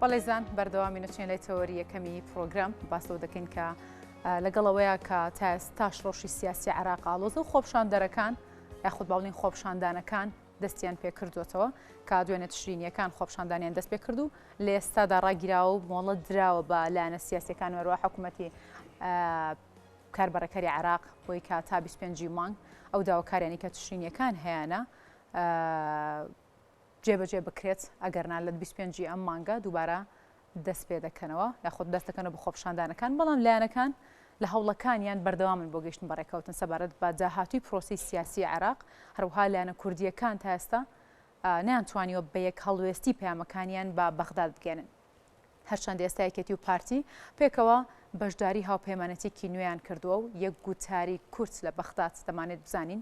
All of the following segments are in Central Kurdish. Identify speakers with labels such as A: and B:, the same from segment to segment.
A: بەڵێزان بەردەوامی نوچێن لای تەوەری یەکەمی پرۆگرام باسەوە دەکەین کە لەگەڵەوەیە کە تاستاش ڕۆشی سیاسی عراق ئاڵۆز و خۆپشان دەرەکان یاخود باڵین خۆپشاندانەکان دەستیان پێکردوێتەوە کا دوێنە تشرینیەکان خۆپشاندانیان دەست پێ کرد و لە ئێستادا ڕاگیراوە و مۆڵەت دراوە بە لایەنە سیاسەکان وەروە حکوومەتی کاربڕەکەری عراق بۆی کا تا 25 مانگ ئەو داواکارانی کە تشرینیەکان هەیەە جێبەجێ بکرێت، ئەگەرنا لە بیست و پێنج ی ئەم مانگە دووبارە دەستپێدەکەنەوە یاخود دەستدەکەنەوە بە خۆپیشاندانەکان، بەڵام لایەنەکان لە هەوڵەکانیان بەردەوامن بۆ گەیشتن بە رێککەوتن سەبارەت بە داهاتووی پرۆسەی سیاسی عێراق، هەروەها لایەنە کوردییەکان تا ئێستا نەیانتوانیوە بە یەک هەڵوێستی پەیامەکانیان بە بەغداد بگەیەنن. هەرچەند ئێستا یەکێتی و پارتی پێکەوە بەشداری هاوپەیمانەتیەکی نوێیان کردووە و یەک گوتاری کورت لە بەغداد دەمانێت بزانین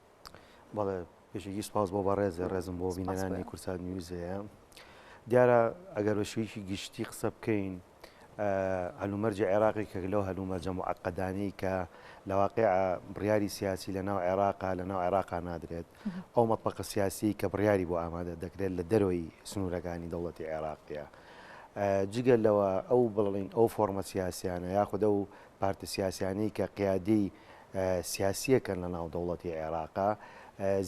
A: بەڵێ
B: پێشێکی سپاس بۆ بەڕێزێ ڕێزم بۆ بینەرانی کورسات نیوزەیە دیارە ئەگەر بە شوویکی گشتی قسە بکەین هەلومەرجی عێراقی کە لەو هەلومەرجە معقدانی کە لە واقع بڕیاری سیاسی لە ناو عێراقا لە ناو عێراقا نادرێت ئەو مەپەقە سیاسی کە بڕیاری بۆ ئامادە دەکرێت لە دەرەوەی سنوورەکانی دەوڵەتی عێراقیە جگە لەوە ئەو بڵین ئەو فۆرمە سیاسیانە یاخدا و پارتە سیاسیانی کە قیادی سیاسیەکەن لە ناو دەوڵەتی عێراقا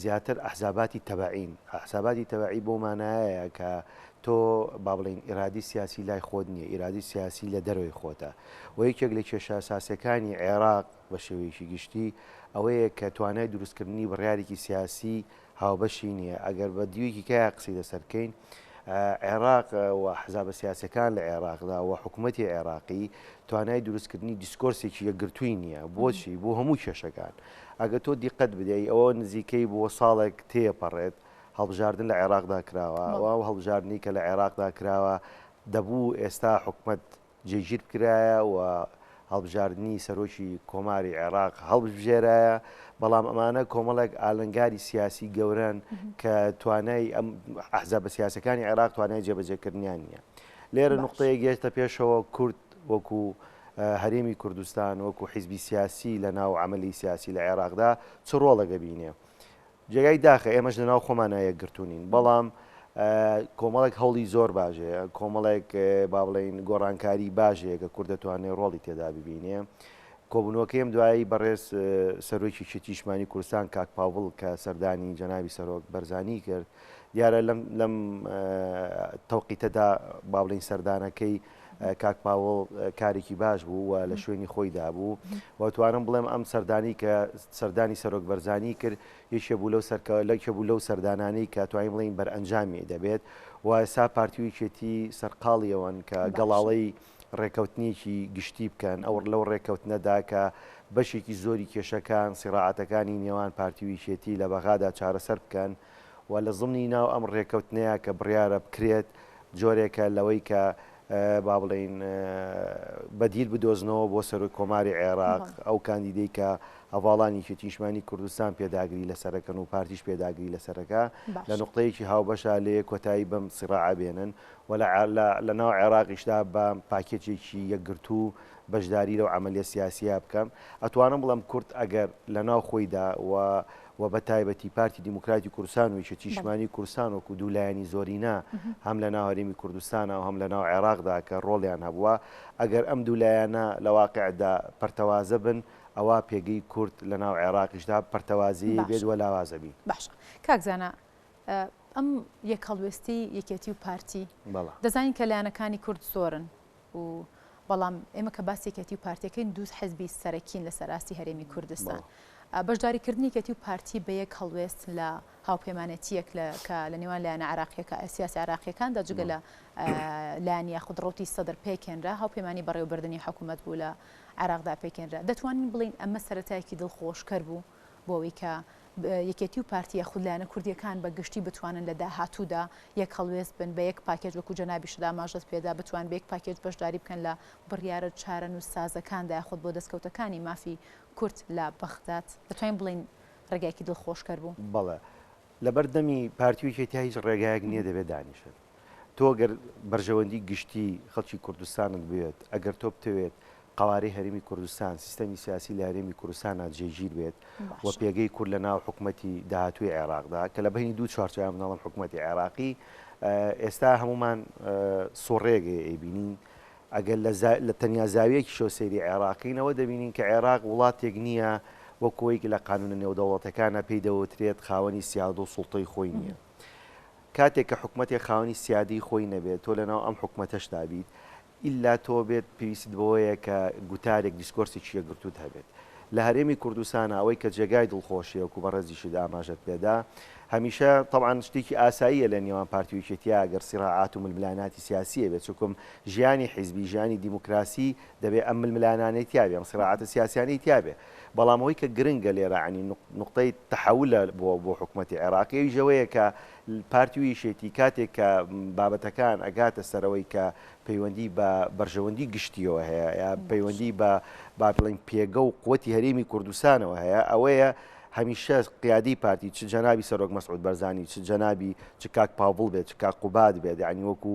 B: زیاتر ئەحزاباتی تەبەعین ئەحزاباتی تەبەعی بۆ مانایەیە کە تۆ با بڵین ئیرادی سیاسی لای خۆت نییە ئیرادی سیاسی لە دەروی خۆتە و یەکێک لە کێشە ساسەکانی عێراق بە شێوەیەکی گشتی ئەوەیە کە توانای دروستکردنی بڕارێکی سیاسی لە هاوبەشی نیە ئەگەر بە دیوێکی کایا قسەی لەسەر بکەین عێراق و حزابە سیاسەکان لە عێراقدا و حکوومەتی عێراقی توانای دروستکردنی دیسکۆرسێکی یەکگرتووی نییە بۆچی بۆ هەموو کێشەکان ئەگە تۆ دیقەت بدەی ئەوە نزیکەی بۆ ساڵێک تێپەڕێت هەڵبژاردن لە عێراقدا کراوە و هەڵبژاردننی کە لە عێراقدا کراوە دەبوو ئێستا حکومت جێگیربکرایە و هەڵبژاردنی سەرۆکی کۆماری عێراق هەڵبژێرایە، بەڵام ئەمانە کۆمەڵێک ئالنگاری سیاسی گەورەن کە توانای ئەم ئەحزابە سیاسەکانی عێراق توانای جێبەجێکردنیان نییە. لێرە نقطەیە گەێشتە پێشەوە کورد وەکو هەرێمی کوردستان وەکو حیزبی سیاسی لە ناو عملی سیاسی لە عێراقدا چ ڕۆڵێک دەبینێ؟ جێگای داخە ئێمەش لەناو خۆمانا یەکگرتوونین بەڵام کۆمەڵێک هەوڵی زۆر باش هەیە کۆمەڵێک با بڵێین گۆڕانکاری باش هەیە کە کورد دەتوانێت ڕۆڵی تێدا ببینێ کۆبوونەوەکەیم دوایی بەڕێز سەرۆکی شتیشمانی کوردستان کاک پاوڵ کە سەردانی جەناوی سەرۆک بەرزانی کرد دیارە لەم لەم تەوقیتەدا با بڵین سەردانەکەی کاک پاوڵ کارێکی باش بوو و لە شوێنی خۆی دابوو و توانم بڵێم ئەم سەردانی کە سەردانی سەرۆک بەرزانی کرد یەکێ بوو لەو سەرکە لەکێ بوو لەو سەردانانی کە توانین بڵین بەرئەنجامی دەبێت و ئێستا پارتیویچێتی سەرقاڵیەوەن کە گەڵاڵەی ڕێکەوتنیەکی گشتی بکەن ئەوڕ لەو ڕێکەوتنەدا کە بەشێکی زۆری کێشەکان سیڕاعاتەکانی نێوان پارتیویچێتی لە بەغادا چارەسەر بکەن و لە زمنی ناو ئەم رێکەوتنەیا کە بڕیارە بکرێت جۆرێکە لەوەی کە با بڵێین بەدیل بدۆزنەوە بۆ سەرۆک کۆماری عێراق ئەو کاندیدەی کە هەواڵانی کێتیشمانی کوردستان پێداگری لەسەرەکەن و پارتیش پێداگری لەسەرەکە لە نقطەیەکی هاوبەشە لێ کۆتایی بەم سیڕعە بێنن و لە ناو عێراقیشدا بە پاکێتێکی یەکگرتو بەشداری لەو عملیە سیاسیە بکەم ئەتوانم بڵم کورد ئەگەر لە ناو خۆیدا و و بە تایبەتی پارتی دیموکراتی کوردستان و یەکێتی نیشتمانی کوردستان وەکوو دوو لایەنی زۆرینە هەم لە ناو هەرێمی کوردستانا و هەم لە ناو عێراقدا کە ڕۆڵیان هەبووە ئەگەر ئەم دوو لایەنە لە واقیعدا پەرتەوازە بن ئەوا پێگەی کورد لە ناو عێراقیشدا پەرتەوازەیی بێت و لاواز ئەبین. باشە کاک زانا
A: ئەم یەکهەڵوێستەی یەکێتی و پارتی دەزانین کە لایەنەکانی کورد زۆرن و بەڵام ئێمە کە باس یەکێتی و پارتیەکەین دوو حزبی سەرەکین لە سەراستی هەرێمی کوردستان بەشداری کردنی کەتی و پارتی بە یەک هەڵوێست لە هاوپەیمانەتیەک لە کە لە نێوان لایەنە عراقیەکە سیاسی عراقیەکاندا جگە لە لایەن یاخود ڕوتی سەدر پێکێنرا هاوپەیمانی بەڕێوبردننی حکوومەت بوو لە عراقدا پێکێنرا دەتوانین بڵین ئەمە سەرەتایەکی دڵخۆشکەر بوو بۆ ئەوەی کە یەکێتی و پارتییە خودلایەنە کوردییەکان بە گشتی بتوانن لە داهاتوودا یەک هەڵوێست بن، بە یەک پاکێج وەکو جەنابیشت ئاماژەت پێدا بتوان بە یەک پاکێج بەشداری بکەن لە بڕیارە چارەنووسسازەکاندا یاخود بۆ دەستکەوتەکانی مافی کورد لە بەغداد دەتوانین بڵێین ڕێگایەکی دڵخۆشکەر بوو؟ بەڵێ.
B: لەبەر دەمی پارتی و یەکێتیی هیچ ڕێگایەک نییە دەبێت دانیشن. تۆ گەر بەرژەوەندی گشتی خەڵکی کوردستانت بوێت ئەگەر تۆ بتەوێت قوارەی هەرمی کوردستان سیستەمی سیاسی لە هەرێمی کوردستانە جێگیر بێت و پێگەی کورد لە ناو حکوومەتتی داهاتوی عێراقدا کە لە بینی دوو چوارچوان مناڵم حکوومەتتی عێراقی ئێستا هەمومان سۆڕێگەی ئەیبینین ئەگەر لە تەنیا زاویەکی شۆ سەیری عێراقینەوە دەبینین کە عێراق وڵاتێک نییە وە کۆیکی لە قانونە نێودەوڵەتەکانە پێی دەوترێت خاوەنی سیاد و سوڵتەی خۆی نییە. کاتێک کە حکومەتێک خاوەنی سیادەی خۆی نەبێت تۆ لەناو ئەم حکومەتەشدا بیت ئیلا تۆ بێت پێویستت بەوەیە کە گوتارێک دیسکۆرسێکی یەکگرتووت هەبێت لە هەرێمی کوردستانا ئەوەی کە جێگای دڵخۆشیە وەکو بەڕێزیشت ئاماژەت پێدا هەمیشە تەبعەن شتێکی ئاساییە لە نێوان پارتی و یەکێتیە گەر سیڕاعات و ململاناتی سیاسیە بێت چونکم ژیانی حیزبی ژیانی دیموکراسی دەبێ ئەم ململانانەی تیابێ ئەم سیڕاعاتە سیاسیانەی تیابێ بەڵام ئەوەی کە گرنگە لێرە عنی نوقتەی تەحەولە بۆ بۆ حکومەتی عێراق ئەویش ئەوەیە کە پارتی و یەکێتی کاتێک کە بابەتەکان ئەگاتە سەرەوەی کە پەیوەندی بە بەرژەوەندی گشتیەوە هەیە یا پەیوەندی بە با بڵین پێگە و قوتی هەرێمی کوردستانەوە هەیە ئەوەیە هەمیشە قیادی پارتی چ جەنابی سەرۆک مەسعود بەرزانی چ جەنابی چ کاک پاڤڵ بێت چ کاک قوباد بێت عنی وەکو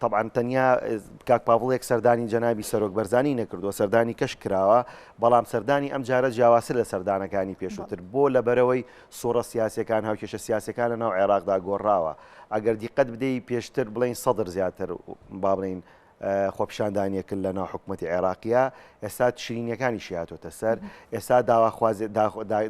B: تەبعەن تەنیا کاک پاڤڵێک سەردانی جەنابی سەرۆک بەرزانی نەکردووە سەردانی کەش کراوە بەڵام سەردانی ئەم جارە جیاواسە لە سەردانەکانی پێشووتر بۆ لە بەرەوەی سوڕە سیاسەکان هاوکێشە سیاسەکان لە ناو عێراقدا گۆڕاوە ئەگەر دیقەت بدەی پێشتر بڵین سەدر زیاتر با بڵین خۆپیشاندانیەکن لە ناو حکوومەتتی عێراقیە ئێستا شرینەکانی شیاتۆتە سەر ئێستا داواخوازێت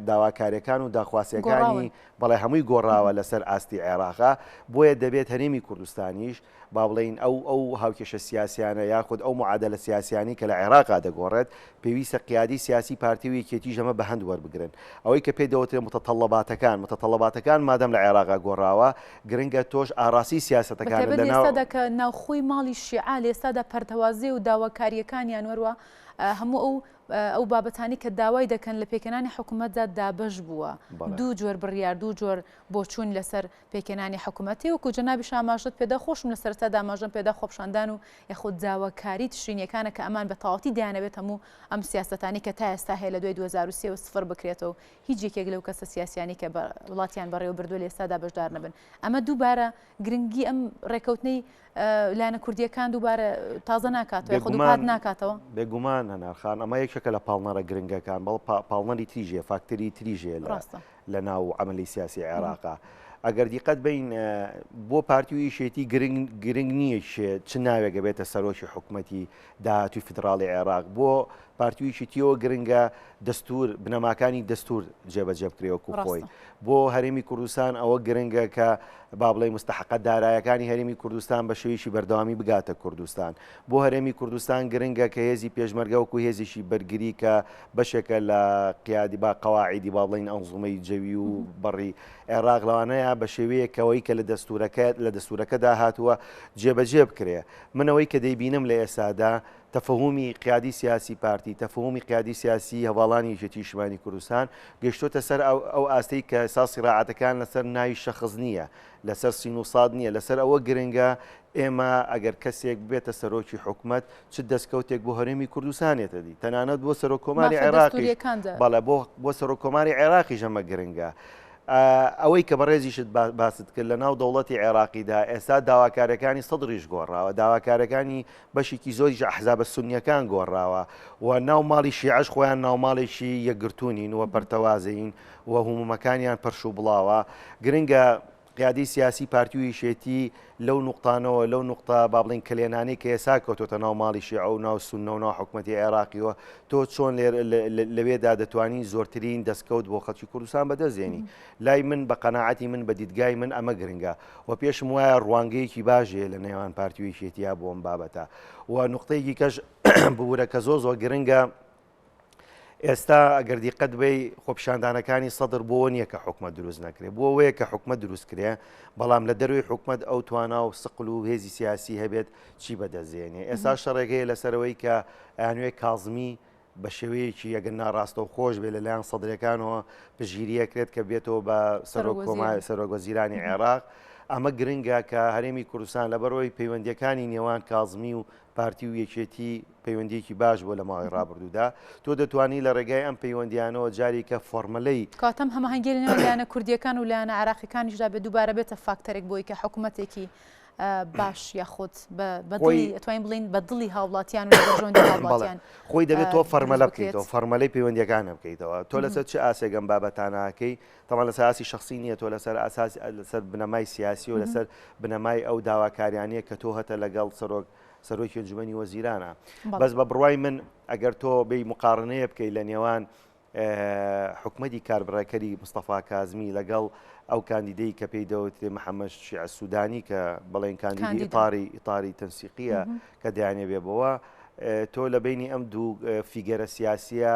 B: داواکارەکان و داخواسیەکانی بەڵێ هەمووی گۆڕاوە لەسەر ئاستی عێراقا، بۆیە دەبێت هەرێمی کوردستانیش با بڵێین ئەو ئەو هاوکێشە سیاسیانە یاخود ئەو معادەلە سیاسیانەی کە لە عێراقا دەگۆڕێت، پێویستە قیادەی سیاسی پارتی و یەکێتیش ئەمە بەهەند وەربگرن. ئەوەی کە پێ دەوترێت متطلباتەکان، متطلباتەکان مادام لە عێراقا گۆڕاوە، گرنگە تۆش ئاڕاستەی سیاسەتەکانت بە تایبەت لەناو. ئێستادا کە
A: ناوخۆی ماڵی شیعە لە ئێستادا پەرتەوازەیە و داواکارییەکانیان وەروا هەموو ئەو. ئەو بابەتانی کە داوای دەکەن لە پێکهێنانی حکوومەتدا دابەش بووە دوو جۆر بڕیار دوو جۆر بۆچوون لەسەر پێکهێنانی حکوومەتی وکو جەنابی شاماژت پێدا خۆشم لە سەرتا داماژەم پێدا خۆپشاندان و یخود داواکاری تشرینیەکانە کە ئەمان بە تەواتی دایانەوێت هەموو ئەم سیاستانی کە تا ئێستا هەیە لە دوای 2023 و سفر بکرێتەوە و هیچ یەکێک لەو کەسە سیاسیانی کە بە وڵاتیان بەڕێوە بردووە لە ئێستادا بەشدار نەبن ئەمە دووبارە گرنگی ئەم ڕێکەوتنەی لایەنە کوردییەکان دووبارە تازە ناکاتەوە یاخود دووپات ناکاتەوە؟ بێگومان هەنار
B: خان، ئەمە یەکێکە لە پاڵنەرە گرنگەکان، بەڵ پاڵنەری تریش هەیە، فاکتەری تریش هەیە لە ڕاستە لە ناو عەمەلی سیاسی عێراقا. ئەگەر دیقەت بین بۆ پارتی و یەکێتی گرنگ گرنگ نییە کێ چ ناوێک ئەبێتە سەرۆکی حکومەتی داهاتووی فیدڕاڵی عێڕاق بۆ پارتی و یەکێتییەوە گرنگە دەستوور بنەماکانی دەستوور جێبەجێ بکرێ وەکوو خۆی. ڕاستە. بۆ هەرێمی کوردستان ئەوە گرنگە کە با بڵێین مستەحەقە دارایەکانی هەرێمی کوردستان بە شێوەیەکی بەردەوامی بگاتە کوردستان. بۆ هەرێمی کوردستان گرنگە کە هێزی پێشمەرگە وەکوو هێزێکی بەرگری کە بەشێکە لە قیادی با قەواعیدی با بڵێین ئەنزوومەی جەوی و بەڕی عێڕاق لەوانەیە بە شێوەیەک کە ئەوەی کە لە دەستوورەکە لە دەستوورەکەدا هاتووە جێبەجێ بکرێ. من ئەوەی کە دەیبینم لە ئێستادا تەفەهومی قیادی سیاسی پارتی تەفەهومی قیادی سیاسی هەواڵانی یەکێتی نیشتمانی کوردستان گەیشتۆتە سەر ئەو ئاستەی کە ئێستا سیراعاتەکان لەسەر ناوی شەخص نییە لەسەر سین و ساد نییە لەسەر ئەوە گرنگە ئێمە ئەگەر کەسێک بێتە سەرۆکی حکومت چ دەستکەوتێک بۆ هەرێمی کوردستانێتە دی تەنانەت بۆ سەرۆکۆماری عێراقی بەڵە بۆ بۆ سەرۆکۆماری عێراقی ژەمە گرنگە. ئەوەی کە بەڕێزیشت باست کرد لەناو دەوڵەتی عێراقیدا ئێستا داواکاریەکانی سەدریش گۆڕاوە داواکارەکانی بەشێکی زۆریش ئەحزابە سنیەکان گۆڕاوە و ناو ماڵی شیعش خۆیان ناوماڵێکی یەکگرتوونین و پەرتەوازەین و هومومەکانیان پەرش و بڵاوە گرنگە قیادی سیاسی پارتیویشێتی لەو نوقتانەوە، لەو نوقتە با بڵێین کەلێنانەی کە ئێستا کەوتۆتە ناو ماڵی شێعە و ناو سوننە و ناو حکومەتی عێراقییەوە، تۆ چۆن لێر لەوێدا دەتوانی زۆرترین دەستکەوت بۆ خەڵکی کوردستان بەدەست هێنی؟ لای من بە قەناعەتی من بە دیدگای من ئەمە گرنگە و پێشم وایە ڕوانگەیەکی باشێ لە نێوان پارتی و یەکێتیە بۆ ئەم بابەتە و نوقتەیەکی کەش ببوورە کە زۆر زۆر گرنگە ئێستا ئەگەر دیقەت بی خۆپشاندانەکانی سەدر بۆەوە نییە کە حکومە دروست نەکرێ بۆ وەیە کە حکومە دروست کرێ بەڵام لە دەروی حکومت ئەو توانا و سقل و هێزی سیاسی هەبێت چی بەدەزێنێ ئێستا شەڕێگەیە لەسەرەوەی کە ئەنوێ کازمی بە شێوەیەکی یەگەن ناڕاستە و خۆش بێ لەلایەن سەدرەکانەوە پژگیریە کرێت کە بێتەوە بە سەرۆک کۆمای سەرۆگۆزیرانی عێراق. ئەمە گرنگە کە هەرێمی کوردستان لەبەرەوەی پەیوەندیەکانی نێوان کازمی و پارتی و یەکێتی پەیوەندیەکی باش بووە لە ماوەی ڕابردوودا، تۆ دەتوانی لە ڕێگای ئەم پەیوەندیانەوە جاریکە فۆرمەلەی. کاتم هەماهەنگی لە
A: نێوان لایەنە کوردیەکان و لایەنە عێراقیەکانیشدا بێت دووبارە بێتە فاکتەرێک بۆی کە حکومەتێکی باش یاخود ئەتوانین بڵین بە دڵی هاوڵاتیان هاوڵاتیان خۆی دەبێت تۆ
B: فەرمەلە بکەیتەوە فەرمەلەی پەیوەندیەکانە بکەیتەوە تۆ لەسەر چ ئاسێگەم بابەتاناکەی تەبعەن لەسەر ئاستی شەخسی نییە تۆ لەسەر ئاساس لەسەر بنەمای سیاسی و لەسەر بنەمای ئەو داواکاریانە کە تۆ هەتە لەگەڵ سەرۆک سەرۆکی جومنی وەزیرانە بەس بە بڕوای من ئەگەر تۆ بی مقارنەیە بکەیت لە نێوان حکومەتی کاربڕێکەری مستەفا کازمی لەگەڵ ئەو کاندیدەی کە پێی دەوترێ محەممەد شیع سوودانی کە بڵێن کاندیدی ئتاری ئتاری تەنسیقیە کە دەیانێ بێ بەوە تۆ لە بینی ئەم دوو فیگەرە سیاسیە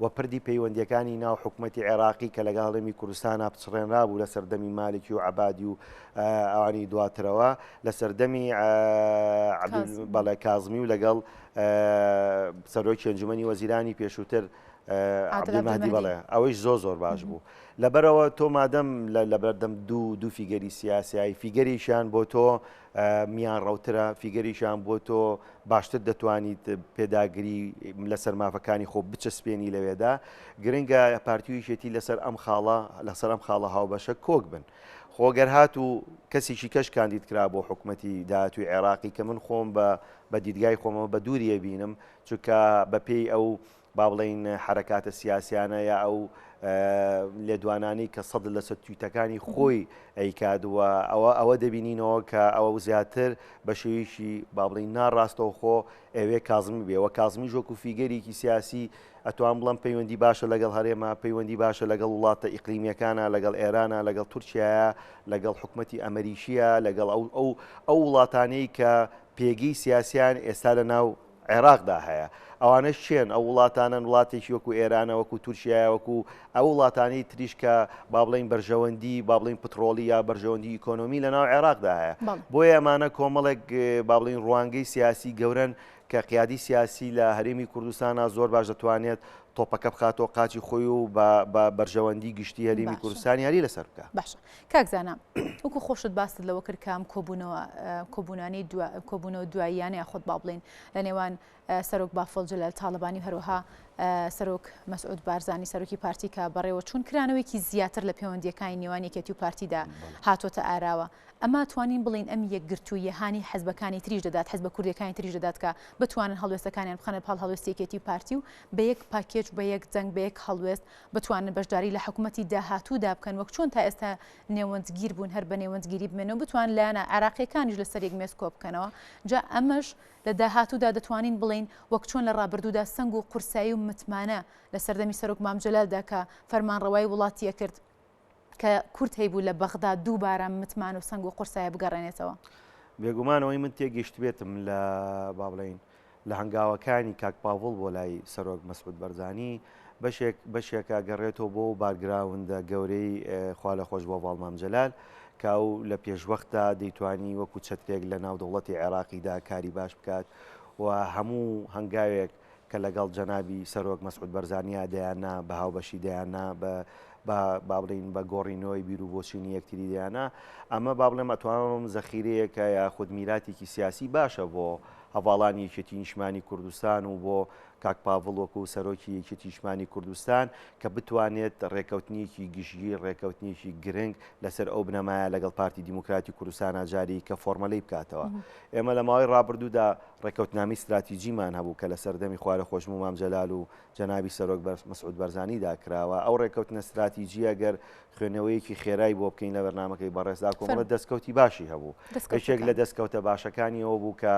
B: و پردی پەیوەندییەکانی ناو حکومەتی عێراقی کە لەگەڵ هەرێمی کوردستانا پچڕێنرابوو لە سەردەمی مالکی و عەبادی و ئەوانی دواترەوە لە سەردەمی بەڵێ کازمی و لەگەڵ سەرۆکی ئەنجومەنی وەزیرانی پێشووتر عبدالمهدی بەڵێ ئەوەیش زۆر زۆر باش بوو لەبەرەوە تۆ مادەم لە بەردەم دوو دوو فیگەری سیاسایی فیگەریشیان بۆ تۆ میان ڕەوترە فیگەریشیان بۆ تۆ باشتر دەتوانیت پێداگری لەسەر مافەکانی خۆ بچەسپێنی لەوێدا گرنگە پارتیویشێتی لەسەر ئەم خاڵە لەسەر ئەم خاڵە هاوبەشە کۆک بن خۆگەر هات و کەسیشی کەش کاندید کرا بۆ حکوومەتی داهاتوی عێراقی کە من خۆم بە بە دیدگای خۆمەوە بە دووریە بینم چونکە بەپێی ئەو با بڵێین حەرەکاتە سیاسیانە یا ئەو لێدوانانی کە سەد لە سەد تویتەکانی خۆی ئەیکات و ئەوە ئەوە دەبینینەوە کە ئەوە زیاتر بە شێویشی بابلین ناڕاستەوە خۆ ئەوێ کازمی بێەوە کازمی ژۆک و فیگەرێکی سیاسی ئەتوان بڵم پەیوەندی باشە لەگەڵ هەرێمە پەیوەندی باشە لەگەڵ وڵاتە ئیقلیمیەکانە لەگەڵ ئێرانە لەگەڵ تورکایە لەگەڵ حکوومەتتی ئەمریکیە لەگەڵ ئەو ئەو ئەو وڵاتانەی کە پێگەی سیاسیان ئێستا لە ناو عێراقدا هەیە ئەوانەش چێن ئەو وڵاتانەن وڵاتێکی وەکو ئێرانە وەکو تورکیایە وەکو ئەو وڵاتانی تریش کە با بڵین بەرژەوەندی با بڵین پتڕۆڵی یا بەرژەوەندی ئیکۆنۆمی لە ناو عێراقدا هەیە بۆ ئەمانە کۆمەڵێک با بڵین ڕوانگەی سیاسی گەورن کە قیادی سیاسی لە هەرێمی کوردستانە زۆر باش دەتوانێت تۆپەکە بخاتەوە قاچی خۆی و بە بەرژەوەندی گشتی هەرێمی کوردستان یاری لەسەر بکە باش کاک زانا
A: وەکو خۆشت باست لەوە کرد کام کۆبوونەوە کۆبوونانی کۆبوونەوە دواییانە یاخود با بڵین لە نێوان سەرۆک بافڵ جلال تاالبانی و هەروەها سەرۆک مەسعود بارزانانی سەرۆکی پارتی کە بەڕێوە چون کرانەوەیکی زیاتر لە پەیوەندیەکانی نێوان یەکێتی و پارتیدا هاتۆتە ئاراوە ئەما توانین بڵین ئەم یەکگرتوویە هاانی حەزبەکانی تریش دەدات حەز بە کوردەکانی تریش دەدات کە بتوانن هەڵوێستەکانیان بخەنە پاڵ هەڵوێستێکێتی پارتی و بە یەک پاکێج بە یەک جەنگ بە یەک هەڵوێست بتوانن بەشداری لە حکومەتی داهاتوودا بکەن وەک چۆن تا ئێستا نێوەندگیر بوون هەر بە نێوەندگیری بمێنەوە بتوان لایەنە عێراقیەکانیش لەسەر یەک مێز کۆبکەنەوە جا ئەمەش لە داهاتوودا دەتوانین بڵین وەک چۆن لە ڕابردوودا سەنگ و قورسایی و متمانە لە سەردەمی سەرۆک مام جەلالدا کە فەرمانڕەوایی وڵاتیەکرد کە کورد هەیبوو لە بەغدا دووبارە متمان و سەنگ و قورسایی بگەڕێنێتەوە؟ بێگومان ئەوەی
B: من تێگەیشتبێتم لە با بڵێین لە هەنگاوەکانی کاک پاڤڵ بۆ لای سەرۆک مەسعود بەرزانی بەشێک بەشێکە گەڕێتەوە بۆ و بارگراوندە گەورەی خوا لە خۆش بۆ باڵمام جەلال کە ئەو لە پێشوەختدا دەیتوانی وەکو چەترێک لە ناو دەوڵەتی عێراقیدا کاری باش بکات و هەموو هەنگاوێک کە لەگەڵ جەنابی سەرۆک مەسعود بەرزانیا دەیان نا بە هاوبەشی دەیان نا بە با بڵین بە گۆڕینەوەی بیر و بۆچینی یەکتری دەیانە ئەمە با بڵێ مەتوانم زەخیرەیەکە یا خود میراتێکی سیاسی باشە بۆ هەواڵانی یەکێتی نیشمانی کوردستان و بۆ کاک پاڤڵ وەکو و سەرۆکی یەکێتی نیشمانی کوردستان کە بتوانێت ڕێکەوتنیەکی گشتگیر ڕێکەوتنیەکی گرنگ لەسەر ئەو بنەمایە لەگەڵ پارتی دیموکراتی کوردستانە جاری کە فۆرمەلەی بکاتەوە ئێمە لە ماوەی ڕابردوودا ڕێککەوتنامەی ستراتیجیمان هەبوو کە لە سەردەمی خوارە خۆشموو مام جەلال و جەنابی سەرۆک بەر مسعود بەرزانیدا کراوە، ئەو ڕێککەوتنە ستراتیجییە گەر خوێنەوەیەکی خێرای بۆ بکەین لە بەرنامەکەی بەڕێزدا کۆمەڵە دەستکەوتی باشی هەبوو. یەکێک لە دەستکەوتە باشەکانی ئەوە بوو کە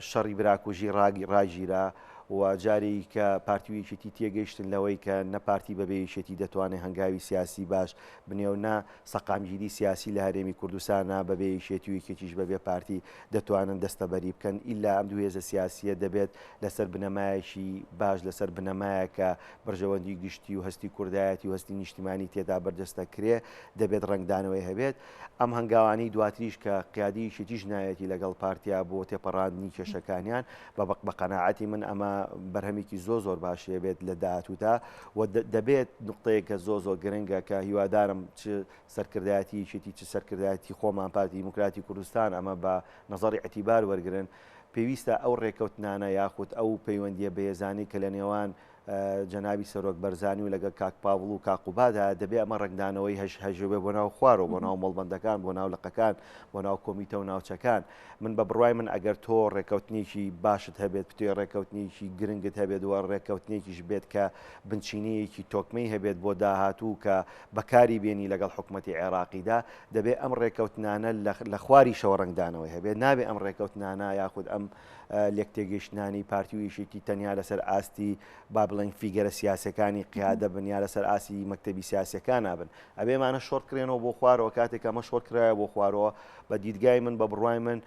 B: شەڕی براکوژی ڕاگیرا و جارێ کە پارتی و یەکێتی تێگەیشتن لەوەی کە نە پارتی بەبێ یەکێتی دەتوانێ هەنگاوی سیاسی باش بنێ و نە سەقامگیری سیاسی لە هەرێمی کوردستانا بەبێ یەکێتی و یەکێتیش بەبێ پارتی دەتوانن دەستەبەری بکەن ئیلا ئەم دوو هێزە سیاسیە دەبێت لەسەر بنەمایەکی باش لەسەر بنەمایە کە بەرژەوەندی گشتی و هەستی کوردایەتی و هەستی نیشتیمانی تێدا بەرجەستە کرێ دەبێت ڕەنگدانەوەی هەبێت ئەم هەنگاوانەی دواتریش کە قیادی یەکێتیش نایەتی لەگەڵ پارتیا بۆ تێپەڕاندنی کێشەکانیان بە قەناعەتی من ئەمە بەرهەمێکی زۆ زۆر باشێ بێت لە داهاتوودا و دەبێت نقطەیە کە زۆ زۆر گرنگە کە هیوادارم چ سەرکردایەتی شێتی چ سەرکردایەتی خۆمان پارتی دیموکراتی کوردستان ئەمە بە نظری ئەتیبار وەرگن پێویستە ئەو ڕێکەوتنانە یاخود ئەو پەیوەندیە بەهێزانی کە لە نێوان جەنابی سەرۆک بەرزانی و لەگەڵ کاک پاڤڵ و کاک قوبادا دەبێ ئەمە ڕەنگدانەوەی هەژ هەژێ بێ بۆ ناو خوارەوە بۆ ناو مەڵبەندەکان بۆ ناو لقەکان بۆ ناو کۆمیتە و ناوچەکان من بە بڕوای من ئەگەر تۆ ڕێکەوتنێکی باشت هەبێت پتێ ڕێکەوتنێکی گرنگت هەبێت و ڕێکەوتنێکیش بێت کە بنچینەیەکی تۆکمەی هەبێت بۆ داهاتوو کە بەکاری بێنی لەگەڵ حکوومەتی عێراقیدا دەبێ ئەم ڕێکەوتنانە لە خواری شەوە ڕەنگدانەوەی هەبێت نابێ ئەم ڕێکەوتنانە یاخود ئەم لێکتێگەیشتنانی پارتی و یەکێتی تەنیا لەسەر ئاستی با بڵێن فیگەرە سیاسەکانی قیادە بن یا لەسەر ئاسی مەکتتەبی سیاسەکان نابن ئەبێمانە شۆرت کرێنەوە بۆ خوارەوە کاتێک ئەمە شۆر کرایە بۆ خوارەوە بە دیدگای من بە بڕای من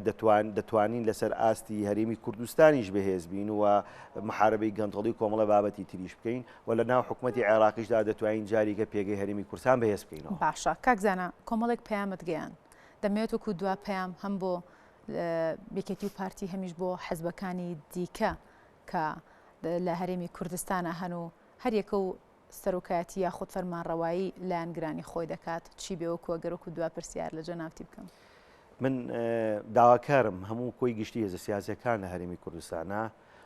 B: دەتوان دەتوانین لەسەر ئاستی هەرێمی کوردستانیش بەهێز بین و محاربەی گەندەڵی کۆمەڵە بابەتی تریش بکەین و لە ناو حکوومەتتی عێراقیشدا دەتوانین جاریکە پێگەی هەرمی کورسان بەهێز بکەینەوە باشە کاکزانە
A: کۆمەڵێک پەیامت گەیان دەمێت وەکو دوا پەیام هەم بۆ یەکێتی و پارتی هەمیش بۆ حزبەکانی دیکە کە لە هەرێمی کوردستانە هەن و هەریەکە و سەرۆکایەتی یاخود فەرمانڕەوایی لایەنگرانی خۆی دەکات چی بێوە کوەگەرەکو دو پرسیار لە جەناوتی بکەم. من
B: داواکارم هەموو کۆی گشتی هێزە سیاسەکان لە هەرێمی کوردستانە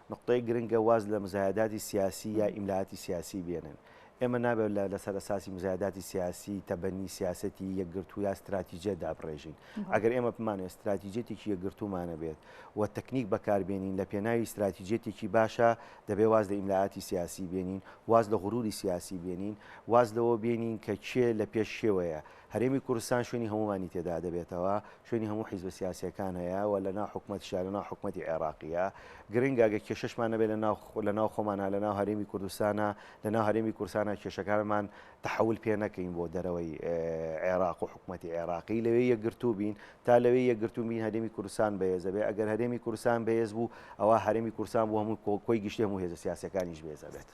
B: نوقتەی گرنگە واز لە مزایەداتی سیاسی یا ئیملااتی سیاسی بێنن. ئێمە نابێت لە لەسەر ئەساسی مزایەداتی سیاسی، تەبەنی سیاسەتی یەکگرتوو یا ستراتیجییەت دابڕێژین. ئەگەر ئێمە بمانەوێت ستراتیجییەتێکی یەکگرتوومان هەبێت و تەکنیک بەکاربێنین لە پێناوی ستراتیجییەتێکی باشە، دەبێت واز لە ئیملااتی سیاسی بێنین، واز لە غرووری سیاسی بێنین، واز لەوە بێنین کە کێ لەپێش کێوەیە. هەرێمی کوردستان شوێنی هەموومانی تێدا دەبێتەوە، شوێنی هەموو حیزبە سیاسییەکان هەیە و لە ناو حکومەتیشا، لە ناو حکومەتی عێراقییە. گرنگە گەر کێشەشمان نەبێت لە ناو، لە ناو خۆمانا، لە ناو هەرێمی کوردستانا، لە ناو هەرێمی کوردستانا کێشەکانمان تەحەول پێ نەکەین بۆ دەرەوەی عێراق و حکومەتی عێراقی. لەوێ یەکگرتوو بین. تا لەوێ یەکگرتوو بین هەرێمی کوردستان بەهێز دەبێت. ئەگەر هەرێمی کوردستان بەهێز بوو، ئەوا هەرێمی کوردستان بوو هەموو کۆی گشتی هەموو هێزە سیاسییەکانیش بەهێز ئەبێت.